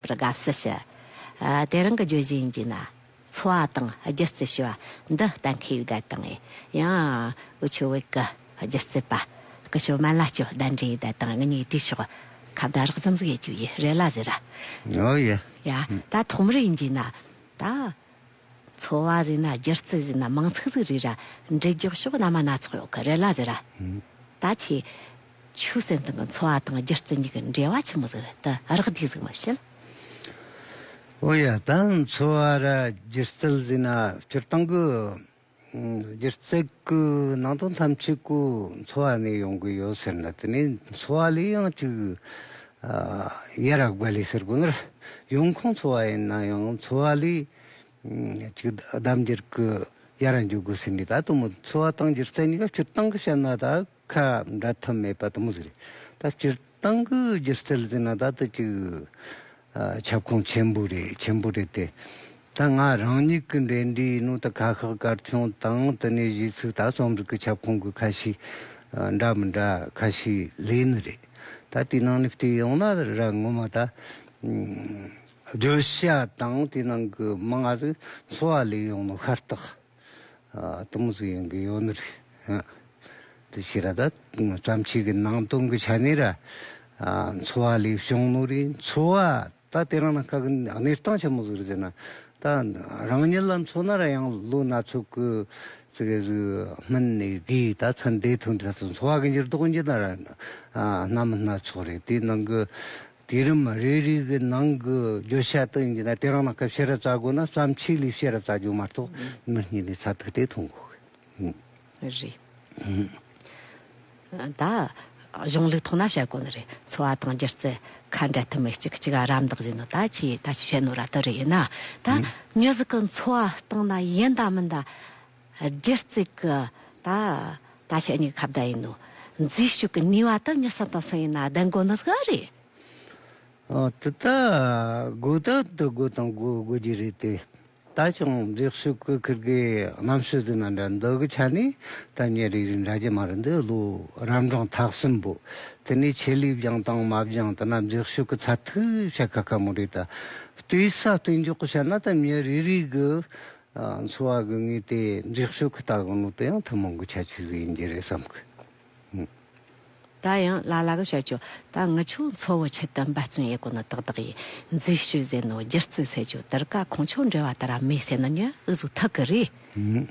པར་དགའ་བསུ་ཞུ། དེ་རང་གི་བརྗོད་གཞི་ཡིན་གྱི་ན། འཚོ་བ་དང་སྒྱུ་རྩལ་ཞུ་བ་འདི་གཏན་འཁེལ་ཡིག་བརྡ་དང། ཡང། ཨུ་ཆོས་བོད་ཀྱི་སྒྱུ་རྩལ་པ། ཀྱི་ཞོ་མན་ལ་ཅོ་བདའ་འདྲའི་ཡིག་བརྡ་དང་ངེད་གཉིས་དུས་ཤོག། ཁ་བརྡ་རགས་ཙམ་ཟིག་ཡས་ཅུ་ཡས་རེ་ལ་ཟེར། ཨོ་ཡ། ཡ། ད་ཐོག་མར་ཡིན་གྱི་ན། ད། འཚོ་བ་རིག་ན་སྒྱུ་རྩལ་རིག་ན་མང་ཚིག་ཚིག་རིག་ར་འབྲི་རྒྱོགས་ཤོག་བླ་མ་སྣ་ཚོགས་ཡོད་གི་རེད་ལ་རེད་ར། ད་ཁྱེད། ཆུ་སྲིན་སྟེང་གི་འཚོ་བ་དང་སྒྱུ་རྩལ་གཉིས་ཀྱི་འབྲེལ་བ་ཆེན་མོ་ཟིག་རེད་དེ་རག་སྡིག་ཟིག་མི་བྱེད། ཨོ་ཡ་ད་འཚོ་བ་ར་སྒྱུ་རྩལ་རིག་ན་སྤྱིར་བཏང་གི་སྒྱུ་རྩལ་གྱི་ནང་དུ་ཐམས་ཅད་སྐུ་འཚོ་བ་ནས་ཡོང་གི་ཡོད་ཟེར་ན་དེ་ནས་འཚོ་བ་ལས་ཡང་ཅིག་ཡེ་རག་བྷ་ལི་ཟེར་དགོས་ནི་ཡོང་ཁུངས་འཚོ་བ་ཡིན་ན་ཡང་འཚོ་བ་ལས་ཅིག་གདམ་འགྱུར་གྱི་ཡ་ར་འཇུག་དགོས་ཟེར་ནས་ད་དུང་འཚོ་བ་དང་སྒྱུ་རྩལ་གཉིས་ཀ་སྤྱིར་བཏང་གི་བཤད་ན་དག་ཁ་འབྲལ་ཐབས་མེད་པ་དང་པོ་ཟེར། ད་སྤྱིར་བཏང་གི་སྒྱུ་རྩལ་ཟེར་ན་ད་ལྟ་གཅིག་ཁྱབ་ཁོངས་ཆེན་པོ་རེད་ཆེན་པོ་རེད་དེ། ད་ང་རང་ཉིད་ཀྱི་འགྲེལ་འདྲིའི་ནང་དུ་ཁ་ཤགས་སྐར་ཆུང་དང་དེ་ནས་གཞིས་ཚིག་ད་རྩོམ་རིག་གི་ཁྱབ་ཁོངས་ཀྱི་ཁ་ཤས་འདྲ་མི་འདྲ་ཁ་ཤས་ལས་ནི་རེད། ད་དེའི་ནང་ནས་བལྟས་ཡོང་ན་ར་ངོ་མ་ད་བརྗོད་བྱ་དང་དེའི་ནང་གི་མིང་ང་ཚོས་འཚོ་བ་ལས་ཡོང་ནོ་ཤ་སྟག། སྟོང་གཟུགས་ཡོན་གྱི་ཡོན་ནོ། དེ་ཕྱིར་ར་དྭ་ཙམ་ཆོས་ཀྱི་སྣང་སྟོང་གི་ཆ་ནས་ར། འཚོ་བ་ལས་བྱུང་ནོ་རེ། འཚོ་བ་ད་དེ་རང་ན་ཁག་གནས་སྟངས་ཆེན་མོ་ཟུར་ཟེར་ན། ད་རང་ཉིད་ལ་འཚོ་ན་ར་ཡང་ལོ་སྣ་ཚོགས་ཀྱི་ཚེ་གེ་སུ་སྨིན་ནས་གིས་ད་ཚ་འདས་ཐུན་འཕྲད་སུ་འཚོ་བ་གི་འགྱུར་ལྡོག་གི་འགྱུར་ན་ར། ནམ་སྣ་ཚོགས་རེ་དེ་ནང་གི། དུས་རིམ་རེ་རེའི་གི་ནང་གི་བརྗོད་བྱ་དག་ཡིན་གྱི་ན་དེ་རང་ལ་སྐབས་ཤེས་རབ་རྩ་དགོས་ན་བརྩམས་ཆོས་ལས་ཤེས་རབ་རྩ་རྒྱུ་མ་གཏོགས་མི་གཉིས་ལས་རྩ་ཐུག་སྟེ་ཐུག་མགོ་གི། རེད། ད། གཞུང་ལུགས་ཐོག་ན་བཤད་དགོས་ནི་རེད་འཚོ་བ་དང་སྒྱུ་རྩལ་ཁ་འབྲལ་ཐུབ་མེད་གཅིག་གི་གཅིག་ག་རམ་འདེགས་བྱེད་ནོ་ད་ཁྱེད་ད་ཅི་བྱེད་ནོ་ར་ལྟར་རེད་ན། ད། མྱུ་གཟུགས་ཀྱི་འཚོ་བ་སྟེང་ན་ཡིན་དང་མིན་དང། རྒྱུ་རྩིག་གི། ད། ད་ཆ་གཉིས་ཀ་ཁ་བརྡ་ཡིན་ནོ། འཛུལ་ཞུགས་ཀྱི་ནུས་བ་དང་གཉིས་སམ་དང་གསུམ་ཡིན་ན་བདེན་དགོས་ནི་ག་རེད། འོ་དེ་ལྟ། དགོས་ད་དུ་དགོས་དང་དགོས་དགོས་ཀྱི་རེད་དེ། ད་ཅང་འདྲེགས་ཞུགས་ཀྱི་ཁུར་གི་རྣམ་ཤེས་ཟིན་ན་འདྲ་འདུག་གི་ཆ་ནས་ད་ཉེ་རིག་རིག་འདྲ་གྱི་མ་རེད་འདུག་ལོ་རབ་འབྲིང་ཐག་གསུམ་པོ། དེ་ནས་ཆེད་ལས་སྦྱང་དང་མ་སྦྱང་དེ་ན་འཛེགས་ཞུགས་ཀྱི་ཚ་ཐུག་བྱ་ག་ག་མོ་རེད་ད། ལྟོས་ས་ལྟོས་འཇོག་གི་བྱ་ན་ད་ཉེ་རིག་རིག་གི། འཚོ་བ་དགོས་ངེས་དེ་འགྲིག་ཤོས་ཀྱི་ལྟ་གང་ནོར་དེ་ཡང་ཐུན་མོང་གི་ཁྱད་ཆོས་ཟིག་ཡིན་གྱི་རེད་བསམ་གི། ད་ཡང་ལ་ལ་གི་བཤད་ཆོག་ད་ངི་ཆོ་འཚོ་བོ་ཆེད་དུ་འབད་བརྩོན་ཡེ་གོ་ནི་དག་དག་ཡིན་འཛུལ་བཤུས་ཟེར་ནོ་སྒྱུར་རྩིས་ཟེར་ཆོག་དིར་ཀ་གང་ཆོག་འབྲེལ་བ་དེ་ར་མེད་ཟེར་ནི་ཉོན་འུ་ཟུག་ཐག་གི་རེད་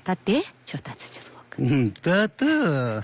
ད་དེ་ཆོ་ལྟ་ཚུལ་ཆུ་ཟོག་གི། ད་དུ།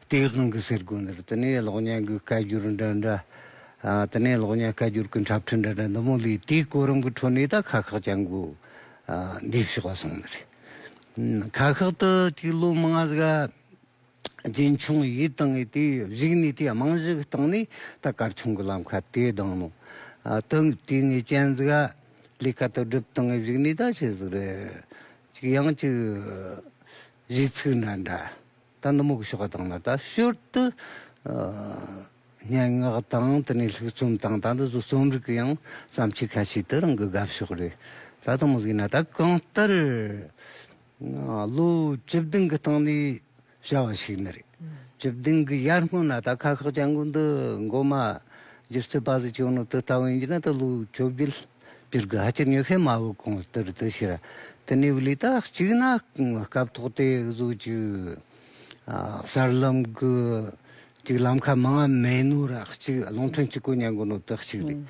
སྟེས་དབང་གི་ཟེར་དགོས་འདིར་དེ་ནས་གློག་བརྙན་གྱི་སྐད་སྒྱུར་འདྲ་འདྲ། དེ་ནས་གློག་བརྙན་སྐད་སྒྱུར་གྱི་འཁྲབ་ཁྲིད་འདྲ་འདྲ་འདི་མོ་ལས་དེའི་གོ་རིམ་གྱི་ཁྲོད་ནས་ད་ཁག་ཁག་ཅན་གྱི་འདི་ཞེས་པ་སོང་ནི་རེད། ཁག་ཁག་ཏུ་དེའི་ལོ་མང་ང་གཟིགས་རྒྱུན་འཁྱོངས་ཡིད་བཏང་ངེས་དེ་གཞིགས་ནས་དེའི་རྨང་གཞི་བཏང་ནས་ད་སྐར་ཆུང་གི་ལམ་ཁ་དེའི་གདང་ནང་དུ་དེའི་ངས་སྤྱན་གཟིགས་ལས་ཀ་དོ་སྒྲུབ་སྟངས་ངས་གཞིགས་ནས་ད་བྱས་ཟིག་རེད། ཅིག་ཡང་ཅིག་གཞི་ཚུགས་འདྲ་འདྲ། ད་ནུབ་མོག་ཞོགས་ཀ་དང་ནི་ད་ཞོར་དུ་སྙན་ངག་དང་དེ་ནས་ལྷུག་རྩོམ་དང་ད་འདི་ཚོ་རྩོམ་རིག་གི་ཡང་བརྩམས་ཆོས་ཁ་ཤས་དེ་རང་གི་དགའ་ཕྱོགས་རེད། ད་དང་མི་གཟིགས་ན་ད་གང་ལྟར་ལོ་བཅུ་བདུན་གི་སྟེང་ནས་བྱ་བ་ཞིག་ནི་རེད། བཅུ་བདུན་གི་ཡར་སྔོན་ན་ད་ཁ་ཁག་ཅང་གུ་འདི་མགོ་མ་བསྒྱུར་ཚུལ་པ་ཟིག་བྱུང་ནི་དེ་ལྟ་བུ་ཡིན་གྱི་ན་ད་ལོ་བཅོ་བརྒྱད། འདིར་དགའ་སྐྱིད་ཉོ་མཁན་མ་བུ་གང་ལྟར་དུ་ཤེས། དེ་ནས་ལུས་དག་གཅིག་ན་སྐབས་ཐོག་དེ་གཟུགས་གཅིག། སར་ལམ་གཅིག་ལམ་ཁ་མ་ལྔ་མེ་ནུ་ར་གཅིག་རླུང་ཕྲན་གཅིག་གོ་ཉན་གོ་ནོ་དག་གཅིག་རེད།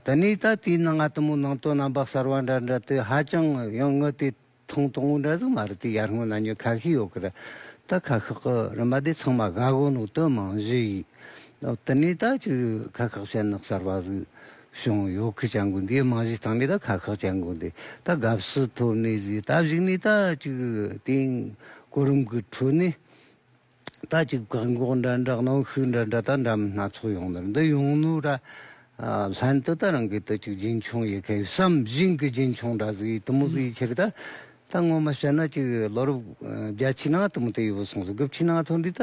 དེ་ནས་ད་ལྟའི་ནང་ང་ལྟ་མོ་ནང་དོན་རྣམ་པ་གསར་བ་འདྲ་འདྲ་དེ་ཧ་ཅང་ཡང་ངུ་དེ། ཐུང་ཐུང་འདྲ་ཟིག་མ་རེད་དེ་ཡར་སྔོན་ན་ཉོས་ཁ་ཤས་ཡོད་གི་རེད་ད་ཁ་ཁག་གི་རིན་པ་དེ་ཚང་མ་ག་གོ་ནོ་དོན་མང་བཞི་ཡིས་དེ་ནས་ད་ཁྱོད་ཁ་ཁག་ཤེད་ནག་གསར་པ་ཟིག་བྱུང་ཡོད་གི་ཅང་གོ་འདིའི་མང་བཞི་དང་ནས་ད་ཁ་ཁག་ཅང་གོ་འདི་ད་དགའ་བསུ་ཐོབ་ནས་ཟིག་ད་བཞུགས་ནས་ད་ཅིག་དེང་གོ་རིམ་གི་ཁྲོད་ནས། ད་ཅིག་བཀག་འགོག་འདྲ་འདྲ་གནོན་ཤུགས་འདྲ་འདྲ་དང་འདྲ་མིན་སྣ་ཚོགས་ཡོང་དོན་འདི་ཡོང་ནུས་ར། ལྷན་དུ་ད་རང་གིས་དུ་ཅིག་རྒྱུན་འཁྱོངས་ཡི་གེ་བསམ་བཞིན་གྱི་རྒྱུན་འཁྱོངས་འདྲ་ཟིག་ཡིད་དུ་མོ་ཟིག་ཡིད་ཆེ་གི་ད་ད་ངོ་མ་བཤད་ན་ཅིག་ལོ་རབས་བརྒྱ་ཕྱི་ནང་དུ་མུ་ཏིག་ཡོད་པོ་སོང་ཟིག་དགུ་ཕྱི་ནང་ཐོན་དུས་ད་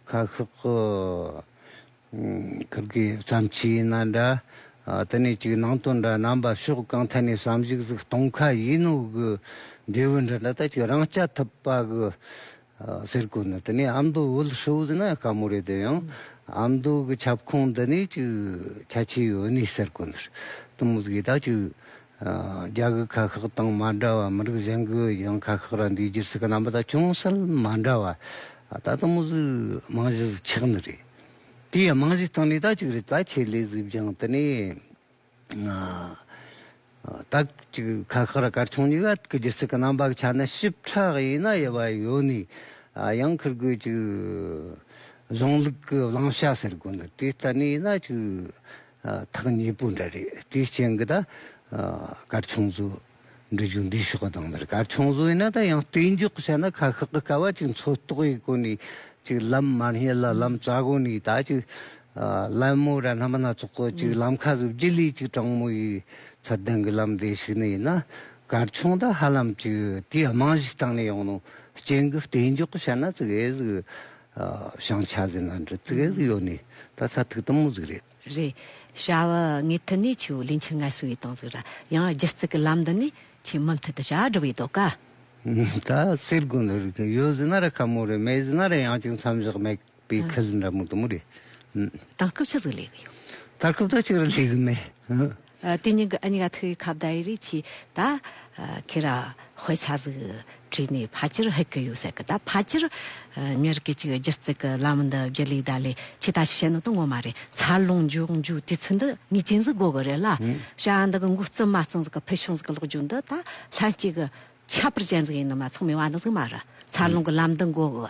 ཁ་ཤོག་གི་ཁབ་ཀྱི་མཚམས་ཕྱི་ན་འདྲ། དེ་ནས་ཅིག་ནང་དུ་འདྲ། རྣམ་པ་ཕྱོགས་གང་ཐད་ནས་སམ་གཞི་གཟུགས་སྟོང་ཁ་ཡིན་ནོ་གི། འབྲས་བུ་འདྲ་འདྲ་ལྟ་ཅིག་རང་སྐྱ་ཐུབ་པ་གི། གསེར་སྐུ་ནི་དེ་ནས་ཨ་མདོ་དབུལ་ཧྲིལ་བོ་ན་དཀའ་མོ་རེད་དེ་ཡང། ཨ་མདོ་གི་ཁྱབ་ཁོངས་འདི་ནས་ཅིག་ཁྱད་ཆོས་ཡོད་ནི་གསེར་སྐུ་ནི། དུམ་བུ་གཟུགས་ཡི་དྭགས་ཅིག། རྒྱ་གི་ཁ་ཁག་དང་མ་འདྲ་བ་མི་རིགས་གཞན་གྱི་ཡང་ཁ་ཁག་རང་འདུས་རྒྱུ་སྲིད་ཀྱི་རྣམ་པ་དང་ཅུང་ཟད་མ་འདྲ་བ། ད་དུང་དམངས་གཞི་དམངས་གཞི་གཟི་ཆགས་ནི་རེད། དེ་ཡང་དམངས་གཞི་སྟེང་ནས་དག་ཅིག་རེད་ད་ཁྱེད་ལས་གཟིགས་སྦྱང་དེ་ནས་དག་ཅིག་ཁ་ཁག་ར་གར་ཆུང་གཉིས་ཀ་གི་རྒྱུ་སྲིད་ཀྱི་རྣམ་པ་གི་ཆ་ནས་ཞིབ་ཕྲག་ཡིན་ན་ཡོད་པ་ཡོད་ནི་ཡང་ཁུར་དགོས་ཅིག་གཞུང་ལུགས་ཀྱི་བླང་བྱ་ཟེར་དགོས་ནི་དེ་ལྟ་ནི་ཡིན་ན་ཅིག། ཐག་ཉེ་པོ་འདྲ་རེད་དེའི་རྐྱེན་གྱིས་ད་གར་ཆུང་བཟོ་འབྲི་རྒྱུ་འདི་ཞོགས་དང་འདིར་གར་ཆུང་བཟོ་ཡིན་ན་ད་ཡང་བརྟེན་འཇོག་བྱས་ན་ཁ་ཤག་གི་དཀའ་བ་ཅིག་འཚོལ་རྟོགས་ཡི་གོ་ནས་ཅིག་ལམ་མར་སྙེད་ལ་ལམ་རྩ་གོ་ནས་ད་ཅིག་གླ་མོ་ར་སྣམ་སྣ་ཚོགས་གོ་ཅིག་ལམ་ཁ་བཟོ་རྒྱུ་ལས་ཅིག་དྲང་མོ་ཡི་ཚད་ལྡན་གྱི་ལམ་བདེ་ཞིག་ནི་ཡིན་ན་གར་ཆུང་ད་ཧ་ལམ་ཅིག་དེའི་རྨང་གཞི་བཏང་ནས་ཡོང་ནོ་རྐྱེན་གྱིས་བརྟེན་འཇོག་བྱས་ན་ཅིག་ཨེ་ཟིག། བྱང་ཆ་ཟིན་ལ་འདྲི་ཚིག་གཟིགས་ཡོད་ནི་ད་ཚ་ཐིག་དུམ་མོ་ཟིག་རེད། རེད། བྱ་བ་ངས་ཐུ་ནི་ཆུ་ལིན་ཆུ་ངལ་སུ་ཡི་དང་ཟིག་ར་ཡང་སྒྱུ་རྩིག་གི་ལམ་འདི་ནི་ཆུ་མུ་མཐུད་དུ་བྱ་བ་འགྲུབ་ཡི་དོ་ཀ། ད་སེར་དགུན་ལ་རིག་ཀྱང་ཡོད་ཟིན་ན་ར་ཁ་མོ་རེད་མེད་ཟིན་ན་ར་ཡང་ཅིག་མཚམས་བཞག་མེད་པའི་ཁལ་འདྲ་མོ་དུམ་མོ་རེད། དང་སྐབས་ཆགས་ཟིག་ལས་གི་ཡོད། ད་སྐབས་ད་ཅིག་ར་ལས་གི་མེད། དེ་ཉིན་གྱི་ཨ་ཉག་ཐུགས་ཡིད་ཁ་བརྡ་ཡི་རིགས་ཆེ་ད། ཁྱེད་ར་བྷོད་ཆ་ལུགས་བྲིས་ནས་ཕ་ཕྱིར་ཧད་ཀི་ཡོད་ཟེར་གི་ད་ཕ་ཕྱིར། མྱི་རིགས་གཅིག་སྒྱུར་བརྩི་གི་ལམ་འདི་བརྒྱུད་ལུས་ད་ལས་ཆེ་ད་བཤད་ནོ་དོན་ངོ་མ་རེད་འཚར་ལོངས་མགྱོགས་མགྱོགས་དུས་ཚོད་འདི་ངས་ཅི་འཛི་དགོས་གི་རེད་ལ། ཤ་འདི་གི་འགོ་རྩིས་མ་རྩིས་འཛི་གི་ཕུལ་བྱུང་འཛི་གི་ལོག་རྒྱུ་འདི་ད་ལྷན་སྐྱེས་གི་ཁྱད་པར་ཅན་གཟུགས་ཡིན་ནོ་མ་ཚང་མི་དབང་ནི་གཟུགས་མ་རུ། འཚར་ལོངས་ཀྱི་ལམ་འདི་མགོ་བོ།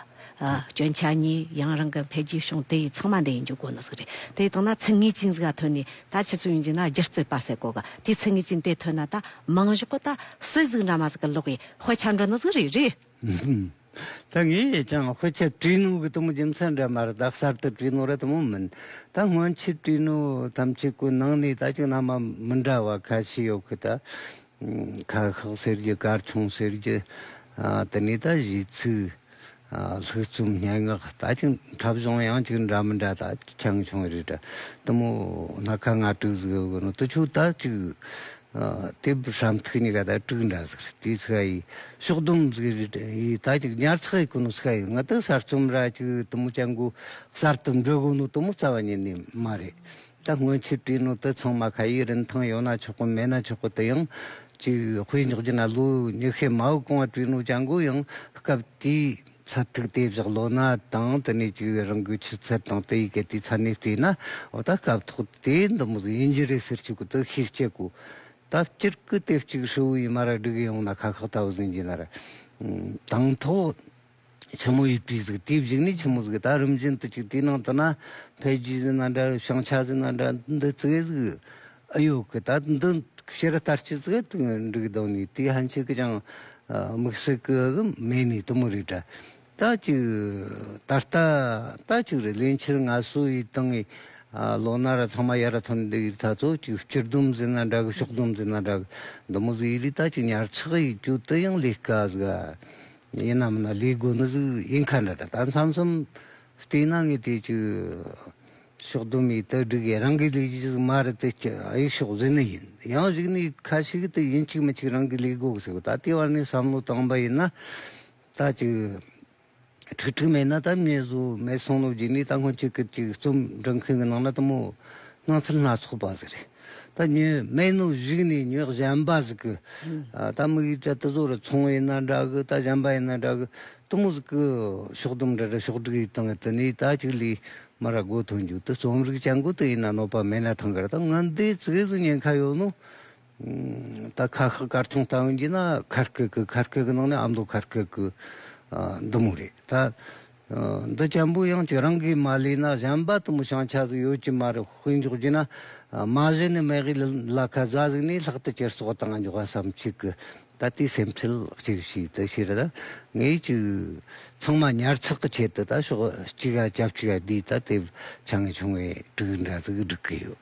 སྐྱོན་ཆ་གཉིས་ཡང་རང་གི་འཕེལ་རྒྱས་བྱུང་དེ་ཡི་ཚང་མ་འདི་ཡི་འཇུག་སྒོ་ནི་གཟུགས་རེད། དེ་ལྟོས་ན་ཚིག་ངེས་ཅན་གཟུགས་ལ་ཐོན་ནས་ད་ཕྱི་ཚུལ་ཡོང་རྒྱུ་ན་སྒྱུ་རྩལ་སྤ་སེ་གོ་གི་དེ་ཚིག་ངེས་ཅན་དེ་ཐོན་ན་ད་མིང་གཞི་གོ་ད་སུའི་གཟུགས་འདྲ་མ་ཟིག་གི་ལོག་པའི་དཔེ་ཆ་འགྲོ་ནི་གཟུགས་རེད་རེད། ད་ངས་ཀྱང་དཔེ་ཆ་བྲིས་ནོ་གི་དུ་མོ་རྒྱུ་མཚན་འདྲ་མ་རུ་ད་གསར་དུ་བྲིས་ནོ་ར་དུ་མོ་མིན། ད་སྔོན་ཆད་བྲིས་ནོ་ཐམས་ཅད་ཀུན་སྣང་ནས་ད་ཅུང་ན་མ་མི་འདྲ་བ་ཁ་ཤས་ཡོད་གི་ད། ཁ་ཤགས་ཟེར་རྒྱུ་སྐར་ཆུང་ཟེར་རྒྱུ་དེ་ནས་ད་གཞི་ཚུགས་ལྷུག་རྩོམ་སྙན་ངག་ལྟ་ཅི་འཁྲབ་གཞུང་ཡང་ཅིག་འདྲ་མི་འདྲ་ད་ཆང་ཆུང་རེད་དྲ་དུ་མོ་སྣ་ཁ་ང་དྲུག་ཟིག་ཡོད་དགོས་ན་དུ་ཆུ་ད་ཅིག་དེ་བཤམས་ཐུགས་གཉིས་ཀ་ད་དྲུག་འདྲ་ཟིག་རེད་དེ་ཚིག་ཡིས་ཕྱོགས་བསྡོམས་ཟིག་རེད་དྲ་ཡིས་ད་ཅིག་ཉར་ཚགས་ཡིན་དགོས་ན་ཚིག་ཡིས་ང་ད་གསར་རྩོམ་ར་ཅིག་དུ་མོ་ཅང་གོ་གསར་དུ་འབྲི་དགོས་ན་དུ་མོ་རྩ་བ་ཉིད་ནས་མ་རེད། ད་སྔོན་ཆོས་གྲྭའི་ནང་དུ་ཚང་མ་ཁ་ཡིག་རིན་ཐང་ཡོད་ན་ཆོག་གི་མེད་ན་ཆོག་གི་དེ་ཡང་ཅི་དཔེ་འཇོག་རྒྱུ་ན་ལོ་ཉི་ཤུའི་མའུ་གང་བ་བྲིས་ནོ་ཅང་གོ་ཡང་སྐབས་དེའི་ཚབ་ཐིག་དེ་བཞག་ལོ་ན་དང་དེ་ནས་ཅིག་བས་རང་གི་ཆུ་ཚད་དང་དེའི་གལ་ཏེ་ཚ་ནས་བལྟས་ན་འོ་ད་སྐབས་ཐོག་དེ་འདི་མོ་ཟིན་གྱི་རེད་ཟེར་ཆོག་གི་དུ་ཤེས་སྐྱེ་གོ་ད་སྤྱིར་ཀི་དེབ་ཅིག་ཧྲིལ་བོའི་མར་སྒྲིག་ཡོང་ན་ཁ་ཁག་ད་བཟིན་གྱི་ནར་དང་ཐོག། ཆེན་མོ་ཡི་དུས་གཟིགས་དེའི་གཞུག་ནི་ཆེན་མོ་གཟིགས་ད་རིམ་བཞིན་དུ་གཅིག་དེའི་ནང་དུ་ན་བྷའི་རྒྱུད་གཟིགས་ན་འདྲ་བྱང་ཆ་གཟིགས་ན་འདྲ་འདི་གཙོས་གཟིགས། ཨ་ཡོ་གི་ད་འདི་ཤེར་ལྟར་སྤྱི་གཟིགས་དུག་འབྲུག་གདོང་ནི་དེའི་ཧན་ཆིག་གི་ཅང་མིག་གསེར་གི་མེ་ནི་དུ་མོ་རི་འདྲ་ད་གཅིག་ད་ལྟ་ད་གཅིག་རི་ལན་ཕྱིར་ང་སུ་ཡི་དང་ངའི་ལོ་ན་ར་ཚང་མ་ཡར་ཐོན་འདི་ཡི་ད་གཙོ་གཅིག་སྤྱིར་སྡོམ་གཟིགས་ན་འདྲ་གི་ཕྱོགས་སྡོམ་གཟིགས་ན་འདྲ་གི་དུ་མོ་གཟིགས་ཡི་ལི་ད་གཅིག་ཉར་ཚགས་ཡི་རྒྱུད་དུ་ཡང་ལི་ཀ་གཟིགས། ཡིན་ནམ་ན་ལས་དགོས་ན་གཟུགས་དབྱིངས་མཁའ་འདྲ་ད་མཚམས་གསུམ་བལྟས་ན་ངས་དེ་ཅི། ཕྱོགས་དུ་མའི་དག་སྒྲིག་ཡིན་རང་གི་ལས་ཀྱི་ཟུར་མ་རེད་དེ་ཅི་ཨ་ཡིག་ཕྱོགས་ཟིན་ནི་ཡིན་ཡང་གཞིགས་ནས་ཁ་ཞིག་དེ་ཡིན་གཅིག་མི་གཅིག་རང་གི་ལས་དགོས་ཟེར་ད་ལྟའི་བར་ནས་བསམ་བློ་བཏང་པ་ཡིན་ན། ད་ཅི། ཁྲིག་ཁྲིག་མེད་ན་ད་མྱི་བཟོ་མེད་སང་ལོ་རྗེས་ནས་ད་སྔོན་གཅིག་གིས་གཅིག་རྩོམ་འབྲི་མཁན་གྱི་ནང་ན་དུ་མོ་སྣང་ཚུལ་སྣ་ཚོགས་པ་ཟེར། ད་ཉོན་སྨན་ནུ་གཞིག་ནས་ཉོན་གཞན་པ་ཟིག་གི། ད་དམིགས་ཡུལ་དྲ་ཏི་བཟོ་རུ་ཚོང་ཡིན་ན་འདྲ་གི་ད་གཞན་པ་ཡིན་ན་འདྲ་གི། ཏི་མུ་ཟིག་གི། ཕྱོགས་དུམ་འདྲ་འདྲ་ཕྱོགས་དྲུག་ཡིད་དང་ཏི་ནི་ད་གཅིག་ལས། མ་ར་སྒོ་ཐོན་རྒྱུ་ཏི་རྩོམ་རིག་བྱ་འགུ་ཏི་ཡིན་ན་གནོད་པ་མེད་ན་ཐང་ག་ར་ད་ང་འདི་ཚིགས་སུ་ཉན་ཁ་ཡོད་ནུ། ད་ཁ་ཤག་སྐར་ཚོང་ལྟ་འོན་གྱི་ན་ཁར་ཁེག་གི་ཁར་ཁེག་གི་ནང་ནས་ཨ་མདོ་ཁར་ཁེག་གི། འདི་མུ་རེད་ད། འདི་བཅམ་པོ་ཡང་ཁྱེད་རང་གིས་མ་ལས་ན་གཞན་པ་དུ་མི་བྱང་ཆ་ཟིག་ཡོད་ཀྱི་མ་རེད་དཔེ་འཇོག་རྒྱུ་ན། མ་གཞི་ནས་མེ་གི་ལ་ཁ་བཟའ་ཟིག་ནས་ལྷག་ཏུ་ཁྱེར་སོག་དང་འཇོག་བ་སམ་ཁྱེད་ཀྱི་ད་ལྟའི་སེམས་ཁྲལ་གཅིག་ཤིག་དུ་ཤེས་ར་ངེས་ཀྱི་ཚང་མ་ཉར་ཚག་གི་ཆེད་དུ་ད་ཤོག་གཅིག་ཡ་རྒྱབ་གཅིག་ཡ་འདིས་ད་དེབ་ཆ་ངེས་བྱུང་བའི་དྲུག་འདྲ་ཟིག་སྒྲིག་གི་ཡོད།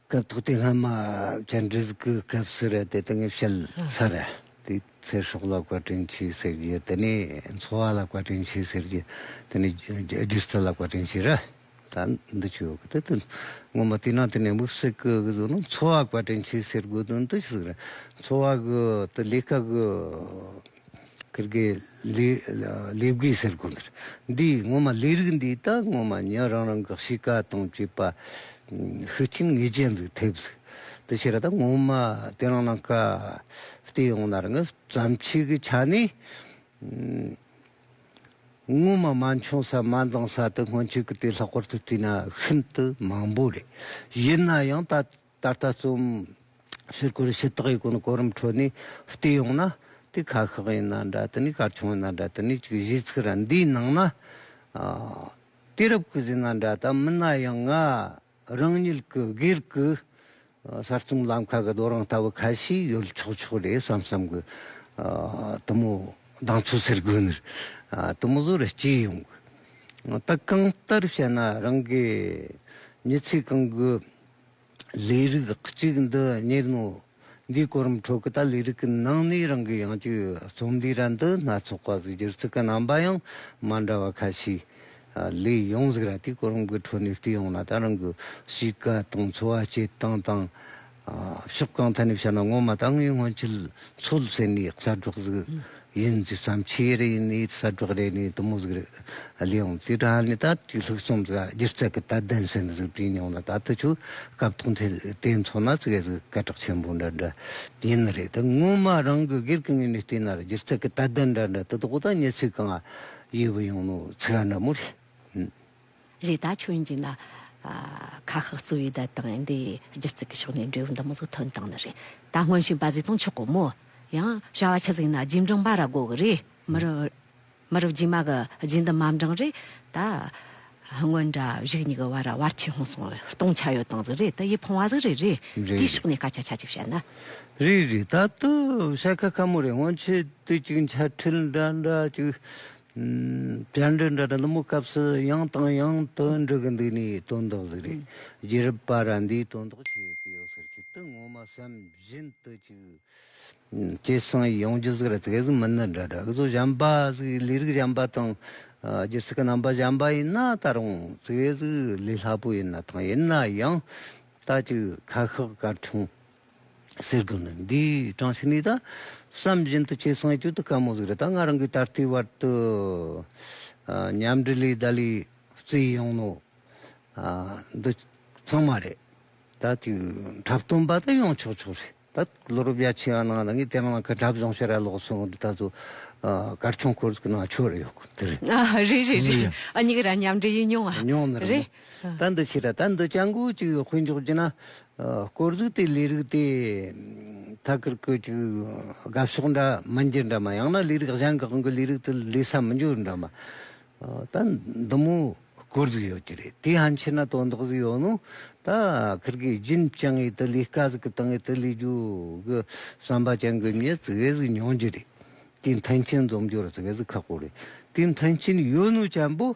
སྐབས་ཐོག་དེ་སྔ་མ་བཅར་འདྲི་གི་སྐབས་སུ་རེད་དེ་དེང་བཤད་ས་རེད་དེ་ཚེ་སྲོག་ལ་བཀའ་དྲིན་ཆེ་ཟེར་རྒྱུ་དེ་ནི་འཚོ་བ་ལ་བཀའ་དྲིན་ཆེ་ཟེར་རྒྱུ་དེ་ནི་སྒྱུ་རྩལ་ལ་བཀའ་དྲིན་ཆེ་རེད་ད་འདི་ཆོས་གོ་དེ་དོན་ངོ་མ་དེ་ནང་དེ་ནས་དམིགས་བསལ་གི་གཟུགས་ནི་འཚོ་བ་བཀའ་དྲིན་ཆེ་ཟེར་དགོས་དོན་དུ་ཟིག་རེད་འཚོ་བ་གི་དེ་ལས་ཀ་གི། ཀིར་གེ། ལེ་བགོས་ཟེར་དགོས་འདིར། འདི་ངོ་མ་ལས་རིགས་འདི་ད་ངོ་མ་ཉོན་རང་རང་གི་གཤིས་ཀ་དང་བཅས་པ། ཤུགས་ཆེན་ངེས་ཅན་འདུག་ཐེབས་ཟིག། དེ་ཕྱིར་ད་ངོ་མ་དེ་རང་ནང་ཀ། བལྟས་ཡོང་ན་རང་བརྩམས་ཆོས་ཀྱི་ཆ་ནས། ངོ་མ་མ་འཁྱོངས་ས་མ་འདང་ས་དེ་སྔོན་ཆད་ཀྱི་དེ་ལྷག་པར་དུ་བལྟས་ན་ཤིན་ཏུ་མང་པོ་རེད། ཡིན་ན་ཡང་ད། ད་ལྟ་རྩོམ་ཕྱིར་སྐོར་ཞི་བདག་གི་སྒོ་ནས་གོ་རིམ་ཁྲོད་ནས་བལྟས་ཡོང་ན། དེ་ཁ་ཤགས་ཡིན་ན་འདྲ་དེ་ནས་གར་ཆུང་ཡིན་ན་འདྲ་དེ་ནས་གཅིག་གཞིས་ཚིག་ར་འདིའི་ནང་ན་དུས་རབས་ཀྱི་གཟིགས་སྣང་འདྲ་དང་མིན་ན་ཡང་ང་རང་ཉིད་ཀྱི་སྒེར་གྱི་གསར་རྩོམ་ལམ་ཁ་གི་རྡོ་རིང་ལྟ་བུ་ཁ་ཤས་ཡོད་ཆོག་ཆོག་རེད་བསམ་བསམ་གྱི་དུ་མོ་གདངས་ཚོད་ཟེར་དགོས་ནི་དུ་མོ་བཟོ་རུ་སྐྱེས་ཡོང་གི་ད་གང་ལྟར་བཤད་ན་རང་གི་མྱི་ཚེ་གང་གི་ལས་རིགས་གཅིག་འདི་གཉེར་ནོ། འདིའི་གོ་རིམ་ཁྲོད་ཀྱི་ད་ལས་རིགས་ཀྱི་ནང་ནས་རང་གི་ཡང་སྤྱོད་རྩོམ་འདིའི་རན་དུ་སྣ་ཚོགས་པ་སྒྱུར་ཚུལ་གྱི་རྣམ་པ་ཡང་མ་འདྲ་བ་ཁ་ཤས་ལས་ཡོང་ཟིག་ར་དེའི་གོ་རིམ་གྱི་ཁྲོད་ནས་བལྟས་ཡོང་ན་ད་རང་གི་གཤིས་ཀ་དང་འཚོ་བ་སྐྱེལ་སྟངས་དང། ཕྱོགས་གང་ཐད་ནས་བཤད་ན་ངོ་མ་ད་ངའི་སྔོན་ཆད་འཚོ་ལ་ཟེར་ནས་གསར་སྒྲོག་ཟིག་ཡིན་རྒྱུ་ཙམ་ཆེ་རེ་ཡིན་ནི་གསར་སྒྲོག་རེ་ནི་དུ་མོ་ཟིག་རེད། ལས་ཡོང་དུས་དྲ་ནི་ད་ལྟའི་ལྷུག་རྩོམ་ཟིག་སྒྱུ་རྩལ་གྱི་དད་ལྡན་ཟིན་ཟིག་བྲིས་མྱོང་ལ་ད་ལྟ་ཆུ་སྐབས་ཐོག་མཐའི་དེ་མཚོ་ན་ཟིག་ཡོད་ཟིག་སྐད་གྲགས་ཆེན་པོ་འདྲ་འདྲ་ཡིན་ནི་རེད་ད་སྔོན་མ་རང་གི་སྒེར་གྱི་ངོས་ནས་བལྟས་ན་སྒྱུ་རྩལ་གྱི་དད་ལྡན་འདྲ་འདྲ་དེ་དག་ད་ཉེ་ཚིག་གང་ཡོད་པ་ཡིན་ནོ་ཚིག་འདྲ་མོ་རེད། རེ་ད་ཆོས་ཡིན་གྱི་ན། ཁ་ཤགས་གཙོ་བོའི་དད་དང་འདི་སྒྱུ་རྩལ་གྱི་ཕྱོགས་ནས་འབྲས་བུ་འདི་མོ་ཟུག་ཐོན་དང་ནི་རེད་ད་སྔོན་བྱིས་པ་གཟིགས་སྟངས་ཆོག་གོ་མོ། ཡང་བྱ་བ་ཆེ་གཟིགས་ན་རྗེས་འབྲང་འབའ་ར་དགོས་གི་རེད་མི་རུ། མི་རུ་རྗེས་མ་གི་རྗེས་འདི་མ་འབྲང་རེད་ད། སྔོན་འདྲ་བཞུགས་གཉིས་ཀྱི་བར་ར་བར་ཆེ་ཧོང་སོང་བའི་སྟོང་ཆ་ཡོད་སྟངས་ཟིག་རེད་དེ་ཡིད་ཕོངས་བ་ཟིག་རེད་རེད་དེའི་ཕྱོགས་ནས་སྐད་ཆ་ཆ་གཅིག་བཤད་ན། རེད་རེད་ད་དུ་བྱ་ཁ་ཁ་མོ་རེད་སྔོན་ཆད་དུས་གཅིག་འཆལ་ཁྲིད་འདྲ་འདྲ་གཅིག། བཅར་འདྲི་འདྲ་འདྲ་མོ་སྐབས་སུ་ཡང་དང་ཡང་དུ་འདྲི་གི་འདུག་ནས་དོན་དག་ཟིག་རེད་རྒྱལ་རབས་པ་ར་འདིས་དོན་དག་བྱེད་ཀི་ཡོད་ཟེར་ཆེད་དུ་ངོ་མ་སེམས་བཞིན་དུ་ཅིག་ཅེས་གསུངས་ཡོང་རྒྱུ་ཟིག་རེད་དེ་ག་ཟིག་མི་སྣ་འདྲ་འདྲ་གི་ཚོ་གཞན་པ་ཟིག་ལས་རིགས་གཞན་པ་དང་སྒྱུ་རྩལ་གི་རྣམ་པ་གཞན་པ་ཡིན་ན་ད་རུང་དེ་ག་ཟིག་ལས་སླ་པོ་ཡིན་ན་ཐང་ཡིན་ན་ཡང་ད་ཅིག་ཁ་ཤགས་གར་འཁྲུངས། ཟེར་དགོས་ནི་འདི་བགྲང་བྱ་ནི་ད་བསམ་བཞིན་དུ་ཁྱེད་སོང་ཡས་གྱོད་དུ་དཀའ་མོ་ཟིག་རེད་ད་ང་རང་གིས་ད་ལྟའི་བར་དུ་མཉམ་འབྲེལ་ལས་བདའ་ལས་བརྩིས་ཡོང་ནོ། འདི་ཚང་མ་རེད་ད་དེའི་འཁྲབ་སྟོན་པ་ད་ཡོང་ཆོག་ཆོག་རེད་ད་བློ་རུབ་རྒྱ་ཆེ་བ་ནང་ད་ངས་དེ་རང་ལ་ཁ་འཁྲབ་སྦྱོང་བྱེད་ར་ལོག་སོང་ངོ་འདི་ད་གཟོད་སྐར་ཆུང་ཁོར་ཚུགས་ན་ཆོག་རེད་ཡོད་དགོས་འདི་རེད། རེད་རེད་རེད། ཨ་མྱེ་ཀི་ར་མཉམ་འབྲེལ་ཡིན་མྱོང་ཨ། མྱོང་ནི་རེད་མོ། རེད། ད་འདི་ཕྱིར་ད་འདི་སྤྱང་ཀུ་ཅིག་དཔོན་འཇོག་བགྱིད་ན། དཀོར་གཟུགས་དེ་ལས་རིགས་དེ་ཐ་ཀིར་ཀུ་ཅིག་དགའ་ཕྱོགས་འདྲ་མི་འགྱུར་འདྲ་མ་ཡང་ན་ལས་རིགས་གཞན་གང་གི་ལས་རིགས་དེ་ལས་ས་མི་འགྱུར་འདྲ་མ། ད་འདི་མོ་དཀོར་གཟུགས་ཡོད་ཀྱི་རེད་དེ་ཧམ་ཆེ་ན་དོན་དག་གཟུགས་ཡོད་ནོ། ད་ཁིར་གིས་རྒྱུན་བསྐྱང་ངེས་དེ་ལས་དཀའ་གཟུགས་བཏང་ངེས་དེ་ལས་རྒྱུ་གི་བསམ་པ་བསྐྱང་གི་མྱེད་ཙི་གེ་གཟུགས་མྱོང་རྒྱུ་རེད། དེའི་མཐུན་རྐྱེན་འཛོམས་རྒྱུར་ཙི་གེ་གཟུགས་ཁག་པོ་རེད་དེའི་མཐུན་རྐྱེན་ཡོད་ནོ་བྱམས་པོ།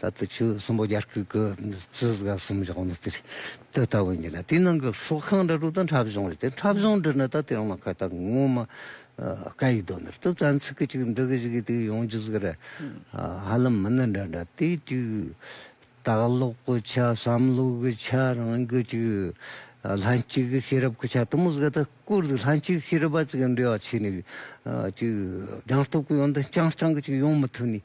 ད་དུ་ཆུ་གསུམ་པོ་རྒྱར་ཁུག་གི་ཆུ་ཟིལ་ག་གསུམ་བཞག་ནས་དེར་དུ་ལྟ་བུ་ཡིན་ལ་དེའི་ནང་གི་ཧྲུག་ཁང་འདྲ་ཧྲུག་དང་འཁྲབ་གཞུང་རེད་དེ་འཁྲབ་གཞུང་འདི་ནི་ད་དེའང་མ་ཁ་ཐག་ངོ་མ་ཀ་ཡིས་རྡོ་འདིར་དུ་བཙན་ཚུགས་ཀྱི་ཅིག་འབྲི་གི་ཞིག་གིས་དེ་ཡོང་རྒྱུ་ཟིག་རེད། ཧ་ལམ་མི་ནི་འདྲ་འདྲ་དེ་དུས་ལྟ་ཀློག་གི་ཆ་བསམ་བློ་གི་ཆ་རང་གི་ཅིག་ལྷན་སྐྱེས་ཀྱི་ཤེས་རབ་ཀྱི་ཆ་དུ་མ་ཟིག་ད་སྐོར་དུ་ལྷན་སྐྱེས་ཀྱི་ཤེས་རབ་པ་ཅིག་གི་འབྲེལ་བ་ཆད་ནས་ཅིག་རྒྱང་སྟོབས་ཀྱི་ཡོན་ཏན་རྐྱང་རྐྱང་གི་ཅིག་ཡོང་མི་ཐུབ་ནས་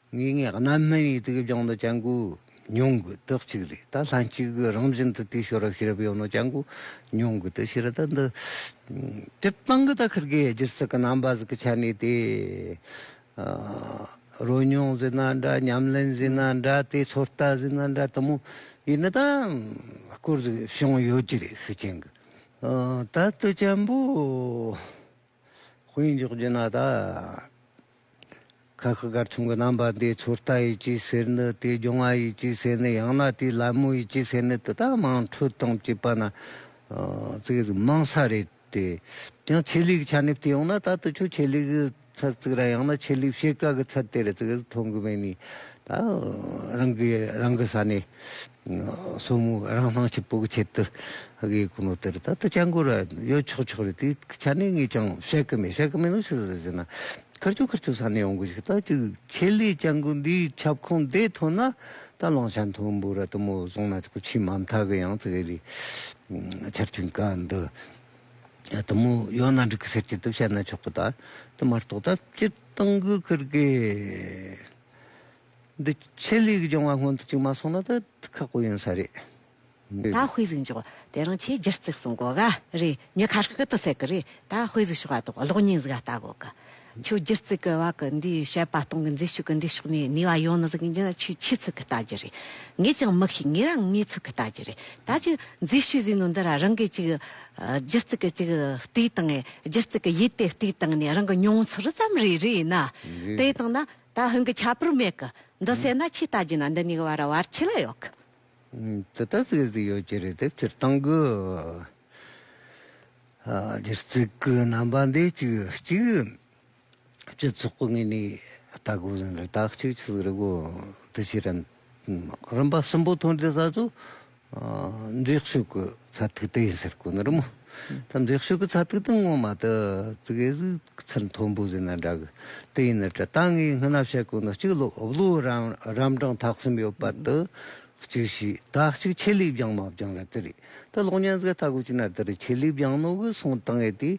ངེད་ངས་གནའ་སྨན་ཡིག་དགེ་རྒྱང་དུ་སྤྱན་དགུ་ཉུང་དགུ་དག་ཅིག་རེད་ད་ལྷན་ཅིག་གི་རང་བཞིན་དུ་དེའི་ཞོར་ཤེས་རབ་ཡོད་ནོ་སྤྱན་དགུ་ཉུང་དགུ་དེ་ཤེས་རབ་དང་འདི། སྤྱིར་བཏང་གི་ད་ཁིར་གའི་སྒྱུ་རྩལ་གྱི་རྣམ་པ་ཟིག་གི་ཆ་ནས་དེ། རོལ་མྱོང་ཟེར་ན་འདྲ་ཉམས་ལེན་ཟེར་ན་འདྲ་དེའི་ཚོད་ལྟ་ཟེར་ན་འདྲ་དུ་མོ་ཡིན་ན་ད་སྐོར་ཟིག་བྱུང་ཡོད་ཀྱི་རེད་ཤུགས་ཆེན་གྱི། ད་ལྟ་སྤྱན་པོ་དཔེ་འཇོག་བགྱིས་ན་ད། ཁ་ཤི་ཀར་ཆུང་གི་རྣམ་པ་འདི་ཚོར་ལྟ་ཡི་སྐྱེད་ཟས་ནི་དེ་སྦྱོང་བ་ཡི་སྐྱེད་ཟས་ནི་ཡང་ན་དེ་ལད་མོ་ཡི་སྐྱེད་ཟས་ནི་དེ་དག་མང་འཕྲོད་དང་བཅས་པ་ན་བརྩེགས་རིགས་མང་ས་རེད་དེ། ཡང་ཆེད་ལུས་ཀྱི་ཆ་ནས་བལྟས་ཡོང་ན་ད་དུ་ཆོས་ཆེད་ལུས་ཀྱི་ཚད་བརྩེགས་ར་ཡང་ན་ཆེད་ལུས་བྱེད་དཀའ་གི་ཚད་དེ་རེད་བརྩེགས་རིགས་མཐོང་གི་མེད་ནི་ད་རང་གི་རང་གི་ས་ནས། སོར་མོ་རང་སྣང་ཆུ་སྤུག་ཁྱེར་དུ་གཡས་སྐུ་ནོར་དེར་ད་ལྟ་སྐྱ་འགོ་ར་ཡོད་ཆོག་ཆོག་རེད་དེ་ཆ་ནས་ངས་ཀྱང་བཤད་ཀྱི་མེད་བཤད་ཀྱི་མེད་ནོ་ཞིག་ཟེར་ན་ཁར་ཆུ་ཁར་ཆུ་ས་ནས་ཡོང་གི་ཞིག་ལྟ་ཅི་ཁྱེད་ལས་སྐྱ་འགོ་འདིའི་ཁྱབ་ཁོངས་འདས་ཐོན་ན་ད་གླང་ཆ་མཐོན་པོ་ར་དུ་མོ་བཟུང་ན་ཁོ་ཆུའི་མ་མཐའ་གི་ཡང་ཙིག་རི་ཆར་ཆུ་འགའ་འདི་ར་དུ་མོ་ཡོད་ན་འགྲིག་གི་ཟེར་གྱི་འདུག་བཤད་ན་ཆོག་གི་ད་དེ་མ་རྟོག་ད་སྤྱིར་བཏང་གི་ཁུར་དགོས། འདི་ཆེད་ལས་ཀྱི་སྦྱོང་བ་སྔོན་དུ་བཅུག་མ་སོང་ན་ད་ཁག་པོ་ཡོང་ས་རེད། ད་དཔེ་གཟིགས་འཇོག་དེ་རང་ཆེས་སྒྱུར་བརྩེགས་སུ་འགོ་ག་རེད་མྱི་ཁ་ཤི་ཏུ་ཟེར་གི་རེད་ད་དཔེ་གཟིགས་ཤོག་ཨ་དོག་གློག་བརྙན་གཟིགས་ཨ་ལྟ་གོ་གི། ཁྱོད་སྒྱུར་བརྩེགས་ཀྱི་བ་གི་འདིའི་བཤད་པ་སྟོང་གི་མཛེས་ཤོས་ཀྱི་འདི་ཕྱོགས་ནས་ནུས་བ་ཡོང་ནི་ཟིག་འཇི་ན་ཆུས་ཆུས་ཚུགས་གི་ལྟ་རྒྱུ་རེད། ངས་ཀྱང་མི་ཤེས་ངས་རང་ངས་ཚུགས་གི་ལྟ་རྒྱུ་རེད་ད་ཅི་མཛེས་ཤོས་ཟིག་ནོ་འདི་ར་རང་གིས་ཅིག་སྒྱུར་བརྩེགས་ཀྱི་ཅིག་ལྟོས་དང་ངས་སྒྱུར་བརྩེགས་ཀྱི་ཡིད་དེ་ལྟོས་དང་ནས་རང་གི་མྱོང་ཚོར་ཙམ་རེ་རེད་ན་དེ་དང་ན། ད་ཧིན་གི་ཁྱད་པར་མེད་གི། འདི་བསད་ན་ཆུ་ལྟ་རྒྱུ་ན་འདི་གཉིས་ཀྱི་བར་ར་བར་ཆུ་ལ་ཡོད་གི། དེ་ལྟར་བརྩིགས་ཟིན་ཡོད་ཀྱི་རེད་དེབ་ཕྱིར་བཏང་གི། འདིར་བརྩིགས་གི་རྣམ་པ་འདི་གཅིག་གཅིག། སྤྱི་ཚོགས་ངོས་ནས་ལྟ་དགོས་ཟིན་རེད་དག་གཅིག་ཆུ་ཟིག་རེད་གོ། དེ་ཕྱིར། རིམ་པ་གསུམ་པོ་ཐོན་དུས་ད་གཟོད་འཛེག་ཤོས་ཀྱི་ཚ་ཐིག་དེ་ཡིན་ཟེར་གི་ནི་རི་མོ། ད་འཛེག་ཤོས་ཀྱི་ཚ་ཐིག་དེ་ངོ་མ་དུ་ཙིག་ཨེ་ཟིག་ཚུར་མཐོན་པོ་ཟིན་ན་འདྲ་གི་དེ་ཡིན་ན་དྲི་དང་ངའི་སྔན་ན་བཤད་གི་ནི་གཅིག་ལོའུ་རམ་གྲངས་ཐག་གསུམ་ཡོད་པ་དུ་གཅིག་ཤི་ད་གཅིག་ཆེད་ལས་བྱང་མ་བྱང་ར་དེ་རེད་དུ་གློག་བརྙན་ཟེར་ཐག་གི་གཅིག་ན་དུ་རེད་ཆེད་ལས་བྱང་ནོ་གི་སོང་དང་ཨེ་དེ་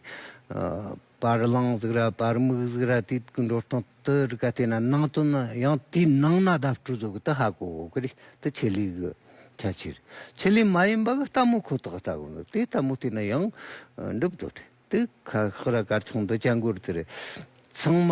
བར་གླང་གཟུགས་ར་བར་མིག་གཟུགས་ར་དུས་ཀྱི་འགྲོ་སྟངས་དུ་རིག་པ་བལྟས་ན་ནང་དོན་ནི་ཡང་དེའི་ནང་ན་བརྡ་སྤྲོད་གཟུགས་ཀྱི་དུ་ཧ་གོ་གི་རེད་དེ་ཆེད་ལས་གི་ཁྱད་ཆོས་རེད་ཆེད་ལས་མ་ཡིན་པ་གི་ལྟ་མོ་ཁོ་ཐག་ལྟ་གི་འདུག་དེ་ལྟ་མོ་བལྟས་ན་ཡང་འགྲུབ་དོ་དེ་ཁ་ཁག་ར་དཀར་ཆུང་འདི་སྤྱན་སྒོར་དེར་ཚང་མ།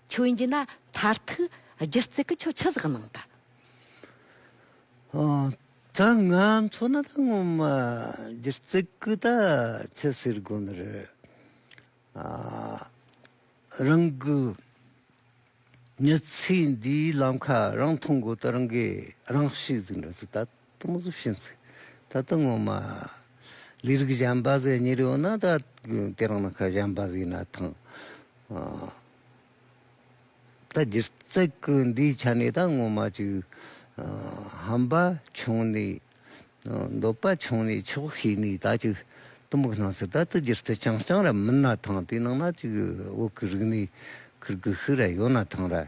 ཁྱོད་འཇི་ན་མཐར་ཐུག་སྒྱུ་རྩལ་གྱི་ཁྱོད་ཆུ་ཟགས་སྣང་དང། ད་ང་མཚོ་ན་ད་ངོ་མ་སྒྱུ་རྩལ་གྱི་ད་ཆུ་ཟེར་དགོས་ནི་རེད། རང་གི་མྱི་ཚེའི་འདིའི་ལམ་ཁ་རང་མཐོང་དགོས་ད་རང་གིས་རང་ཤེས་ཟིག་འདྲ་ཚོད་ད། སྟོང་གཟུགས་ཤིང་ཚིག་ད་ལྟ་ངོ་མ། ལི་རིགས་གཞན་པ་ཟེར་ཉེར་ཡོད་ན་ད་དེ་རང་ནང་ཁ་གཞན་པ་ཟིག་ན་ཐང། ད་སྒྱུ་རྩལ་གི་འདིའི་ཆ་ནས་ད་ངོ་མ་ཅིག། ཧམ་པ་ཆུང་ནས་འདོད་པ་ཆུང་ནས་ཆོག་ཤེས་ནས་ད་ཅིག་གཏི་མུག་སྣང་ཟིག་ད་ད་སྒྱུ་རྩལ་རྐྱང་རྐྱང་ར་མིན་ན་ཐང་དེ་ནང་ན་ཅིག་འོག་གི་རིག་གནས་ཁུར་གི་ཤི་ར་ཡོད་ན་ཐང་ར།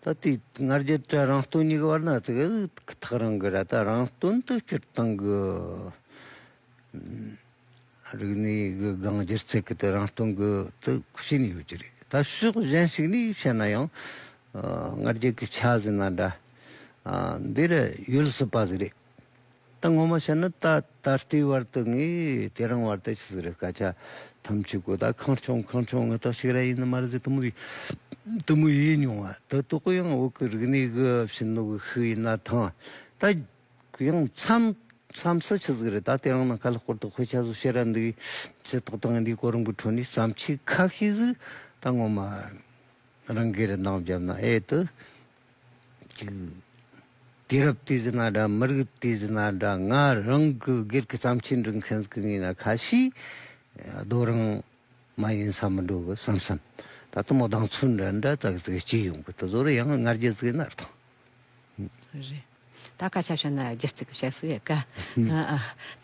ད་ལྟའི་ང་རྒྱལ་དེ་རང་སྟོང་ཉིད་ཀྱི་བར་ན་དེ་ཐག་རིང་གི་ར་དང་རང་སྟོན་དུ་སྤྱིར་བཏང་གི་རིག་གནས་གི་སྒང་སྒྱུ་རྩལ་གྱི་དེ་རང་སྟོང་གི་དུ་ཕྱིན་ཡོད་ཀྱི་རེད། ད་ཕྱོགས་གཞན་ཞིག་ནས་བཤད་ན་ཡང་ང་རྒྱལ་གྱི་ཆ་ཟིན་ན་འདྲ་འདིར་ཡོད་སྲིད་པ་ཞིག་རེད། ད་ངོ་མ་ཤར་ན་ད་ད་ལྟའི་བར་དུ་ངས་དེ་རང་བར་དེ་ཆི་ཟིག་རེད་སྐད་ཆ་ཐམས་ཅད་གོ་ད་ཁང་ཆུང་ཁང་ཆུང་ངོ་ཐོག་ཤིག་ར་ཡིན་ནི་མ་རེད་དུ་མུ་ཡི་དུ་མུ་ཡིན་མྱོང་ང་ད་དུ་གུ་ཡངས་དབུགས་ཀྱི་རིག་གནས་ཀྱི་ཕྱི་ནུབ་ཤིག་ཡིན་ན་ཐང་ད་གུ་ཡངས་མཚམས་མཚམས་སུ་ཆི་ཟིག་རེད་ད་དེ་རང་ནང་ཁ་ལྷག་པོར་དུ་དཔེ་ཆ་བཟོ་ཤེས་ར་འདུག་ཅི་ཏག་ཏག་ང་འདིའི་གོ་རིམ་གྱི་ཁྲོད་ནས་བསམ་ཤེས་ཁ་ཤས་ཟིག་ད་ངོ་མ་རང་གིས་རིན་ཐང་བརྒྱབ་ན་ཨེ་ཏུ། གཅིག། དུས་རབས་དུས་ཟིག་ན་འདྲ་མི་རིགས་དུས་ཟིག་ན་འདྲ་ང་རང་གི་སྒེར་གྱི་བརྩམས་ཆོས་འབྲི་མཁན་ཟིག་ཡིན་ན་ཁ་ཤས་རྡོ་རིང་མ་ཡིན་ས་མི་འགྲོ་གི་བསམ་བསམ་ད་དུ་མོ་གདངས་ཚུལ་འདྲ་འདྲ་ཙག་ཙིག་གཅིག་ཡོང་གི་དུ་ཟོ་རུ་ཡང་ངར་རྒྱ་ཙིག་ནར་ཐང། རེད། ད་སྐད་ཆ་བཤད་ན་རྒྱུ་རྩིས་ཀྱི་བཤད་སྲོལ་ཡོད་གི།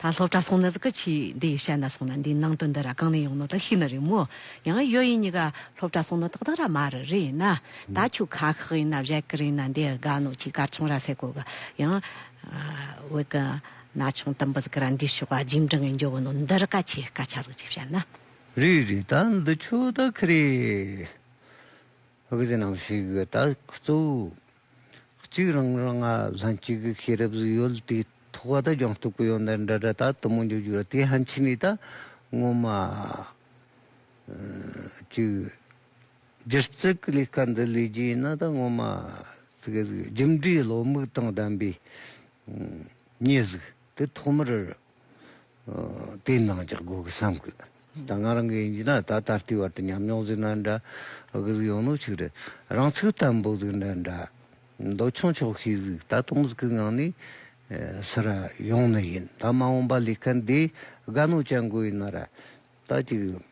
ད་སློབ་གྲྭ་སོང་ན་ཟིག་གི་ཆུ་འདི་ཡི་བཤད་ན་སོང་ན་འདིའི་ནང་དོན་འདི་ར་གང་ནས་ཡོང་ནོ་ད་ཤི་ན་རེད་མོ། ཡང་ཡོད་ཡིན་གཉིས་ཀ་སློབ་གྲྭ་སོང་ན་ཏག་ཏག་ར་མ་རི་རི་ཡིན་ན། ད་ཆུ་ཁ་ཤག་ཡིན་ན་བཞད་གི་རི་ཡིན་ན་འདི་དགའ་ནོ་ཆུའི་སྐར་ཆུང་ར་སེ་གོ་གི། ཡང། འོད་གི། ན་ཆུང་དུམ་བུ་ཟིག་གི་ར་འདིའི་ཤོག་ཨ་འཇིམ་འབྲིང་གི་འཇོ་བོ་ནོ་འདི་རི་ཀ་ཆུའི་སྐར་ཆ་ཟིག་ཅིག་བཤད་ན། རི་རི་ད་འདི་ཆུ་ད་ཁི་རེད། ཨོ་གི་ཟེ་ནང་ཞིག་ད་ཁུ་ཚུ། གཅིག་རང་རང་ང་ལྷན་གཅིག་གི་ཤེས་རབ་གཟུགས་ཡོད་དེ་ཐོག་ཁ་ད་ཅོང་སྟུག་པོ་ཡོད་འདི་འདྲ་འདྲ་ད་དུ་མོ་འཇུག་འཇུག་ར་དེ་ཧན་ཆི་ནི་ད་ངོ་མ་གཅིག་སྒྱུ་རྩལ་གི་ལས་ཀ་འདི་ལས་རྒྱུ་ཡིན་ན་ད་ངོ་མ་གཅིག་རྒྱུ་འབྲས་བློ་མིག་དང་ལྡན་པའི་ཉེས་གཟུགས་དེ་ཐོག་མར་དེ་ནང་རྒྱག་དགོས་གི་བསམ་གི། ད་ང་རང་གི་ཡིན་གྱི་ན་ད་ད་ལྟའི་བར་དུ་ཉམས་མྱོང་གཟིགས་ན་འདྲ། གི་གཟིགས་ཡོང་ནོ་ཆིག་རེད། རང་ཚུགས་དམ་པོ་གཟིགས་ན་འདྲ། མདོ་ཆུང་ཆོག་ཤེས་གཟིགས་ད་སྟོང་གཟིགས་གི་ངང་ནས། སི་ར་ཡོང་ནི་ཡིན་ད་མ་འོངས་པ་ལས་ཀ་འདི་དགའ་ནོ་ཅན་དགོས་ཡིན་ན་ར། ད་ཅིག།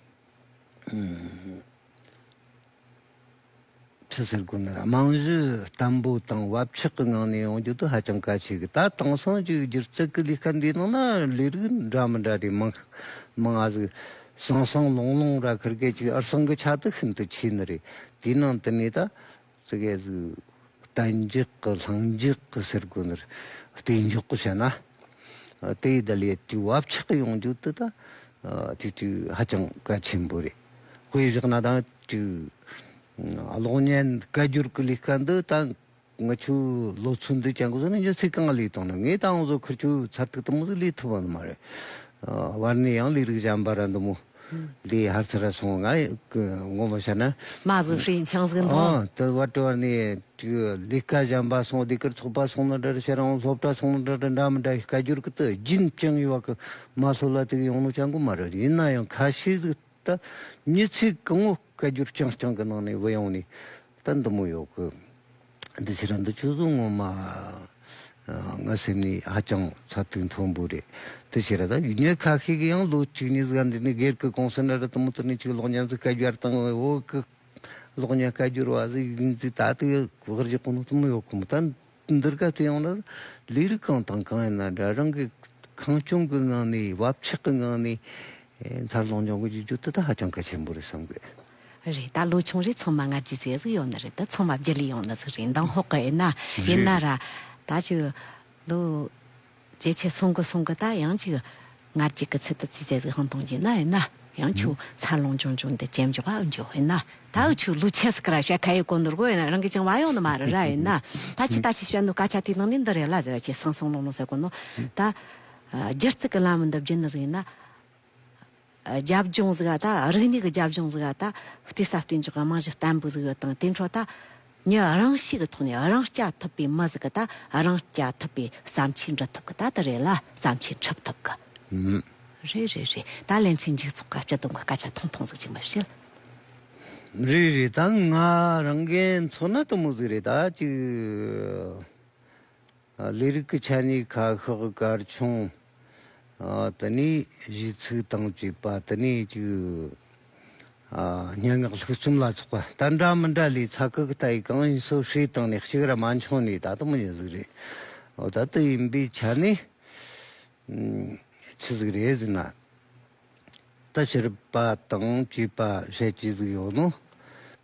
ཁྲི་ཟུར་དགོན་ནི་རྨང་གཞི་བརྟན་པོ་དང་བབ་ཆགས་ཀྱི་ངང་ནས་ཡོང་རྒྱུ་དེ་ཧ་ཅང་གལ་ཆེ་གི་ད་དེང་སང་གི་སྒྱུ་རྩལ་གྱི་ལས་ཀ་འདིའི་ནང་ན་ལས་རིགས་འདྲ་མི་འདྲ་དེ་མང་མང་ཨ་ཟི་ཟང་ཟང་ལོང་ལོང་ར་ཁུར་སྐད་ཅིག་ཨར་སང་གི་ཆ་དེ་ཤིན་ཏུ་ཆེ་ནི་རེད་དེའི་ནང་དུ་ནས་ད་ཙི་གེ་ཟི་གཏན་འཇགས་ཀྱི་ལྷིང་འཇགས་ཀྱི་ཟེར་དགོན་ནི་བལྟས་འཇོག་བྱས་ན་དེའི་ད་ལས་དེའི་བབ་ཆགས་ཡོང་རྒྱུ་དེ་ད་དུས་དུས་ཧ་ཅང་གལ་ཆེན་པོ་རེད། དཔེ་བཞག་ན་དང་གཅིག། གློག་བརྙན་བཀའ་འགྱུར་གྱི་ལས་ཀ་འདི་ད་ང་ཆུ་ལོག་ཚོད་འདི་ཅང་གོ་ས་ནས་འཇོན་ཚེ་གང་ལས་བཏང་ན་ངས་ད་འོང་ཟོ་ཁར་ཆུ་ཚར་ཐུག་ཐུབ་མ་ཟིག་ལས་ཐུབ་བ་ནི་མ་རེད། བར་ནས་ཡང་ལས་རིགས་གཞན་པ་ར་འདི་མོ་ལས་ཧར་ཚ་ར་སོང་ང་གི་ངོ་མ་བཤད་ན། མ་བཟོ་ཧྲིའི་འཆང་ཟིག་འདོ། ཨ་དེ་བར་དྲི་བར་ནས་གཅིག་ལས་ཀ་གཞན་པ་སོང་སྡེ་ཁུལ་ཚོགས་པ་སོང་ན་འདྲ་རེད་ཤེ་རང་སློབ་གྲྭ་སོང་ན་འདྲ་རེད་འདྲ་མི་འདྲ་བཀའ་འགྱུར་གྱི་དུ་རྒྱུན་བཅིངས་ཡོད་པ་གི་མ་སོ་ལ་དེ་གའི་ཡོང་ལོ་ཅང་གོ་མ་རེད་ཡིན་ན་ཡང་ཁ་ཤས་ཟིག་ད་མྱི་ཚིག་གི་ངོ་བཀའ་རྒྱུར་རྐྱང་རྐྱང་གི་ནང་ནས་བུད་ཡོང་ནས་ད་འདི་མོ་ཡོད་གི་འདི་ཕྱི་ར་འདི་ཆུ་ཟོ་ངོ་མ་ང་སེམས་ནས་ཧ་ཅང་ཚ་དུས་མཐོ་འབུ་རེད་དེ་ཕྱི་ར་ད་ཡུལ་མྱི་ཁ་ཤས་གི་ཡང་ལོ་གཅིག་ནས་ཟིག་འདི་ནས་སྒེར་གི་གོང་ས་ན་ར་དུ་མོ་དུ་ནས་ཅིག་གློག་བརྙན་ཟིག་བཀའ་རྒྱར་བཏང་བས་འོ་གི་གློག་བརྙན་བཀའ་རྒྱུར་བ་ཟིག་ཡིན་ཟིག་ད་དུ་ཡོད་གི་བར་རྗེ་གོ་ནོ་དུ་མོ་ཡོད་གི་མོ་ད། འདིར་སྐབས་དེ་ཡང་ལ་ལས་རིགས་གང་དང་གང་ཡིན་ན་འདྲ་རང་གི་ཁང་ཆུང་གི་ནང་ནས་བབ་ཆགས་ཀྱི་ངང་ནས་འཚར་ལོངས་འབྱུང་དགོས་ཀྱི་རྒྱུ་དེ་དག་ཧ་ཅང་གལ་ཆེན་པོ་རེད་བསམ་གི། རེད་ད་ལོ་ཆུང་རེ་ཚང་མ་སྔར་གྱི་ཟས་ཟིག་ཡོང་ནི་རེད་ད་ཚང་མ་བརྗེ་ལེ་ཡོང་ནི་ཟིག་རེད་མདང་ཧོག་གི་ཨེ་ན་ཡིན་ན་ར་ད་ཆུ་ལུག། ཇེ་ཆེ་སོང་གི་སོང་གི་ད་ཡང་ཅིག་ངར་གཅིག་གི་ཚུལ་དུ་བརྩིས་ཏེ་གཟིགས་ཤིང་མཐོང་བྱས་ན་ཡིན་ན་ཡང་ཆུ་འཚར་ལོངས་ཅུང་ཅུང་དེ་ཇེ་མགྱོགས་པ་འཇུག་དབེན་ན་ད་འུ་ཆུ་ལུ་ཆེ་སི་ཀ་ར་བཤད་ཁ་ཡི་གོ་འདུར་གོ་ཡིན་ན་རང་གི་ཅིང་བ་ཡོང་ནི་མ་རེད་ར་ཡིན་ན་ད་ཕྱི་ལྟ་ཞིག་བཤད་འདུག་སྐ་ཆ་དེའི་ནང་ནས་འདི་རེད་ལ་ཟེར་བ་ཆེ་སང་སང་ལོང་ལོང་ཟེར་དགོས་ནོ་ད་སྒྱུ་རྩིག་གི་ལམ་འདི་བརྒྱུད་ནི་ཟིག་ཡིན་ན། རྒྱབ་ལྗོངས་ཟིག་ད་རིག་གནས་ཀྱི་རྒྱབ་ལྗོངས་ཟིག་ད་བལྟས་ས་བལྟས་འཇོག་གི་རྨང་གཞི་བརྟན་པོ་ཟིག་ཡོད་དང་དེའི་འཕྲོ་ད་ཉི་རང་ཤས་ཀྱི་ཐོག་ནས་རང་སྐྱ་ཐུབ་པའི་མི་ཟིག་ད་རང་སྐྱ་ཐུབ་པའི་བསམ་འཆར་འབྲི་ཐུབ་ཀྱི་ད་དེ་རེད་ལ་བསམ་འཆར་འཁྲབ་ཐུབ་ཀྱི་མེད། རེད་རེད་རེད་ད་ལན་ཚོའི་འཇིག་ཚོགས་ཀྱི་སྤྱི་བསྡོམས་ཀྱི་སྐད་ཆ་ཐུང་ཐུང་ཟིག་ཅིག་མི་བཤད། རེད་རེད་ད་ང་རང་རྒན་ཚོ་ན་དུ་མོ་ཟིག་རེད་ད་ཅིག། ལས་རིགས་ཀྱི་ཆ་ནས་ཁ་ཤགས་སྐར་ཆུང། དེ་ནས་གཞིས་ཚིག་དང་བཅས་པ་དེ་ནས་ཅིག། སྙན་ངག་ལྷུག་རྩོམ་ལ་སོགས་པ་ལྟར་འདྲ་མི་འདྲ་ལས་ཚ་ཁག་ལྟ་ཡི་གང་ཡིན་སོ་བསྲེས་བཏང་ནས་གཅིག་ར་མ་འཆོངས་ནས་ད་དུང་མི་ཡོང་གཟིགས་རེད། ད་དུ་ཡིན་པའི་ཆ་ནས། ཇི་ཟིག་རེད་ཟེར་ན། ད་ཕྱིར་པ་དང་བཅས་པ་ཞེས་ཇི་ཟིག་ཡོད་ནོ།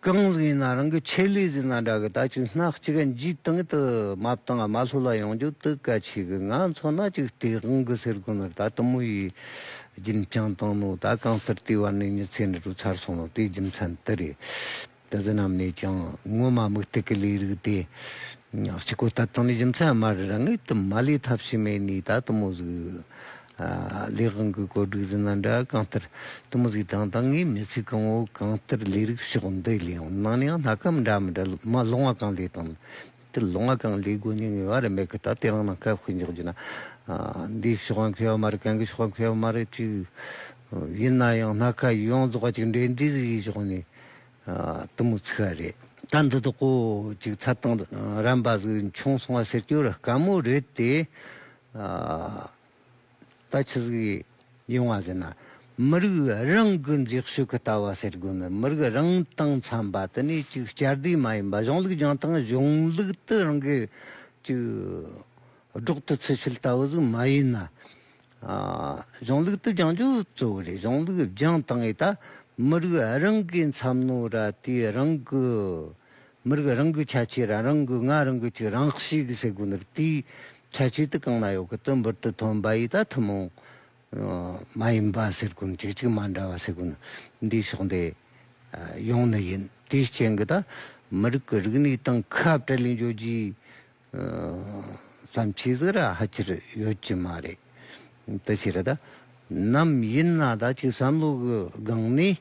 གང་ཟིག་ཡིན་ན་རང་གི་ཆེད་ལས་ཟེར་ན་འདྲ་གི་ད་ཆུ་སྣ་གཅིག་གི་འཇིག་སྟངས་དུ་མབ་དང་མ་ལྷོ་ལ་ཡོང་རྒྱུ་དུ་ག་ཆེ་གི་ང་ཚོ་སྣ་གཅིག་སྟེ་རང་གི་སེར་ཁུང་ནར་ད་དུ་མོ་ཡིས་སྦྱིན་བསྐྱངས་བཏང་ནོ་ད་གང་ལྟར་ལྟེ་བ་ནས་མྱི་ཚེ་འདི་དྲུག་ཚར་སོང་ནོ་དེའི་རྒྱུ་མཚན་དེ་རེད། དེ་དག་རྣམས་ནས་ཀྱང་སྔོན་མ་དམིགས་གཏད་ཀྱི་ལས་རིགས་ཏེ། གཅིག་གོ་ལྟ་དང་ནི་རྒྱུ་མཚན་སྨྲར་རང་ངེས་དུ་མ་ལས་ཐབས་ཕྱི་མའི་ནི་ད་དུ་མུ་གཟུགས། ལས་གང་གི་གོ་སྒྲིག་ཟིན་ན་འདྲ་གང་ལྟར་དུ་མུ་གཟུགས་དང་ད་ངེས་མི་ཚིག་གང་བོ་གང་ལྟར་ལས་རིགས་ཕྱོགས་འདི་ལའང་ནང་ནའང་སྣ་ཁ་མི་འདྲ་མི་འདྲ་མ་ལོང་བ་གང་ལས་དང། དེ་ལོ་ང་གང་ལས་དགོས་ངེས་ངེས་བ་རེད་མེད་གི་ད་དེ་རང་ནང་ཁ་ཕིག་འཇོག་རྒྱུ་ན་འདིའི་ཕྱོགས་ང་མཁས་བ་མ་རེད་གན་གི་ཕྱོགས་ང་མཁས་བ་མ་རེད་ཅིག་ཡིན་ན་ཡང་སྣ་ཁ་ཡོངས་རྫོགས་ཅིག་འབྲེལ་འདྲིས་ཟིག་ཡིག་ཕྱོགས་ནས་དུ་མུ་ཚིག་ག་རེད་ད་འདི་དག་གོ་ཅིག་ཚ་དང་རན་པ་ཟིག་འཆུང་སོང་བ་ཟེར་རྒྱུ་ར་དཀའ་མོ་རེད་དེ། ད་ཆུ་ཟིག་ཡོང་བ་ཟེར་ན་མི་རིགས་རང་གི་འཛེགས་ཤོས་ཀྱི་ལྟ་བ་ཟེར་དགོས་མེད་མི་རིགས་རང་དང་འཚམ་པ་དེ་ནི་ཅིག་བསྐྱར་ཟློས་མ་ཡིན་པ་གཞུང་ལུགས་སྦྱང་སྟངས་གཞུང་ལུགས་དེ་རང་གི་ཅིག་སྒྲོག་ཏུ་ཚུད་ཚུལ་ལྟ་བུ་ཟིག་མ་ཡིན་ན། གཞུང་ལུགས་དེ་སྦྱང་རྒྱུ་གཙོ་བོ་རེད་གཞུང་ལུགས་སྦྱང་སྟངས་ཨེ་ད་མི་རིགས་རང་གི་འཚམ་ནོ་ར་དེའི་རང་གི། མི་རིགས་རང་གི་ཁྱད་ཆོས་རང་རང་གི་ངག་རང་གི་ཆོས་རང་གཤིས་ཀྱི་ཟེ་གོ་འདིར་དེའི་ཁྱད་ཆོས་དེ་གང་ན་ཡོད་གི་དོན་འབུར་དུ་ཐོན་པ་ཡིས་ད་ཐུན་མོང་མ་ཡིན་པ་ཟེར་གོ་གཅིག་གཅིག་མ་འདྲ་བ་ཟེ་གོ་འདིའི་ཕྱོགས་འདི་ཡོང་ནི་ཡིན་དེའི་རྐྱེན་གི་ད་མི་རིགས་ཀྱི་རིག་གནས་དང་ཁ་བྲལ་ནས་འཇོག་རྒྱུའི་བསམ་ཁྱེད་ཟེ་ར་ཧ་ཁྱེར་ཡོད་ཀྱི་མ་རེད་དེ་ཕྱིར་ད་ནམ་ཡིན་ན་ད་ཀྱི་བསམ་བློ་གི་སྒང་ནས།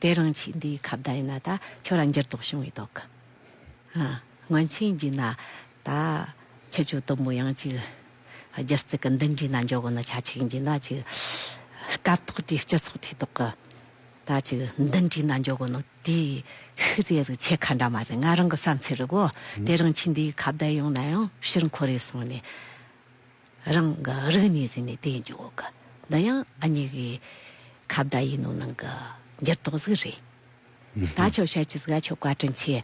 དེ་རང་ཆས་འདིའི་ཁ་བརྡ་ཡིན་ན་ད་ཁྱོད་རང་འགྱུར་ལྡོག་བྱུང་བའི་དོག་གི། སྔོན་ཆད་འགྱིས་ན་ད་ཁྱི་ཆུ་དུམ་བུ་ཡང་ཅིག། སྒྱུ་རྩལ་གི་འདི་འགྱིས་ན་འཇོག་གོ་ན་ཆ་ཆིག་འགྱིས་ན་ཅིག། སྐབས་ཐོག་དེའི་སྤྱི་ཚོགས་དེའི་ཐོག་གི། ད་ཅིག་འདི་འགྱིས་ན་འཇོག་གོ་ན་དེའི་ཤུལ་རྫས་རིགས་ཆད་ཁ་འདྲ་མ་རེད་ང་རང་གི་བསམ་ཚུལ་རེད་གོ། དེ་རང་ཆས་འདིའི་ཁ་བརྡ་ཡོང་ན་ཡང་ཕྱིར་འཁོར་རེ་སོང་ནས། རང་གི་རིགས་ནི་ཟིན་ནས་དེའི་འཇུག་གོ། འདི་ཡང་ཨ་མྱེས་ཀྱི་ཁ་བརྡ་ཡིན་ནོ་ནང་གི་འགྱུར་ལྡོག་ཟིག་རེད། ད་ཆོག་ཤར་གྱི་སྒ་ཆོག་བཀའ་དྲིན་ཆེ།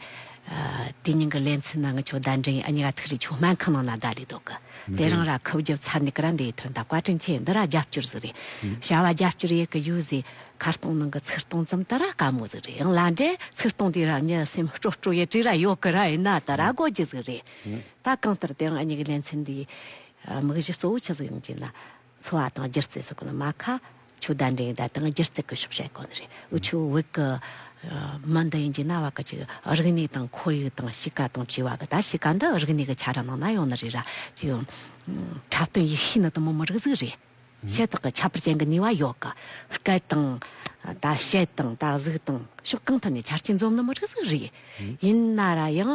དེ་སྙིང་གི་ལན་ཚིག་ནང་གི་ཆོག་བརྡ་འདྲེན་ཨ་མྱེས་ར་ཐུག་རེད་ཆོག་སྨན་ཁང་ནང་ན་བརྡ་ལས་ལྡོག་གི་དེ་རང་ར་ཁུབ་རྒྱབ་ཚར་ནས་ཀི་ར་འདའི་དོན་དང་བཀའ་དྲིན་ཆེ་འདི་ར་རྒྱབ་སྐྱོར་ཟིག་རེད། བྱ་བ་རྒྱབ་སྐྱོར་ཡས་ཀི་ཡོད་ཟིག་ཁ་སྟོང་ནང་གི་ཚིག་སྟོང་ཙམ་དེ་ར་དཀའ་མོ་ཟིག་རེད་ཡང་ལ་འདྲེ་ཚིག་སྟོང་དེ་ར་མྱི་སེམས་སྤྲོ་སྤྲོ་ཡས་བྲིས་ར་ཡོད་ཀི་ར་ཡིན་ན་དེ་ར་དགོས་ཀྱི་ཟིག་རེད། ད་གང་ལྟར་དེའང་གཉིས་ཀྱི་ལེ་ཚན་འདིའི་དམིགས་གཞི་གཙོ་བོ་ཆི་ཟིག་ཡིན་གྱི་ན། འཚོ་བ་དང་སྒྱུ་རྩལ་སོགས་ཀྱི་ནང་མ་ཁ་ཆུ་བརྡ་འགྲེང་བརྡ་དང་སྒྱུ་རྩལ་གྱི་ཤོག་བྱ་ཡག་ནི་རེད། འུ་ཆོའི་བོད་ཀྱི་མི་འདི་ཡིན་གྱི་ན་བ་ཀ་ཅིག་རིག་གནས་དང་ཁོར་ཡུག་དང་གཤིས་ཀ་དང་བྱིས་བ་ཀྱི་ད་གཤིས་ཀ་འདི་རིག་གནས་ཀྱི་ཆ་རང་ནང་ན་ཡོང་ནི་རེད་ར་ཅིག་ཡོང། འཁྲབ་སྟོན་ཡིག་ཤེས་ནི་དུ་མོ་མི་རིགས་གཟུགས་རེད། ཤེས་རྟོགས་ཀྱི་ཁྱད་པར་ཅན་གྱི་ནུས་བ་ཡོད་གི། སྐད་དང། ད་བཤད་དང་ད་གཟིགས་དང་ཕྱོགས་གང་ཐད་ནས་ཆ་རྐྱེན་འཛོམས་ནི་མི་རིགས་གཟུགས་རེད། ཡིན་ན་ར་ཡང།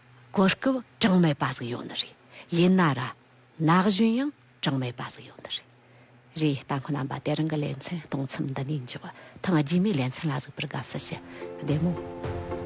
གོ་སྐབས་གྲངས་མེད་པ་ཟིག་ཡོང་ནི་རེད། ཡིན་ན་ར། ན་གཞོན་ཡང་གྲངས་མེད་པ་ཟིག་ཡོང་ནི་རེད། རེད་ལྟ་མཁོ་རྣམ་པ་དེ་རང་གི་ལེ་ཚན་སྟོང་ཚིམས་འདི་ནས་འཇུག་ཐང་རྗེས་མའི་ལེ་ཚན་ལ་གཟིགས་པར་དགའ་བསུ་ཞུ་བདེ་མོ།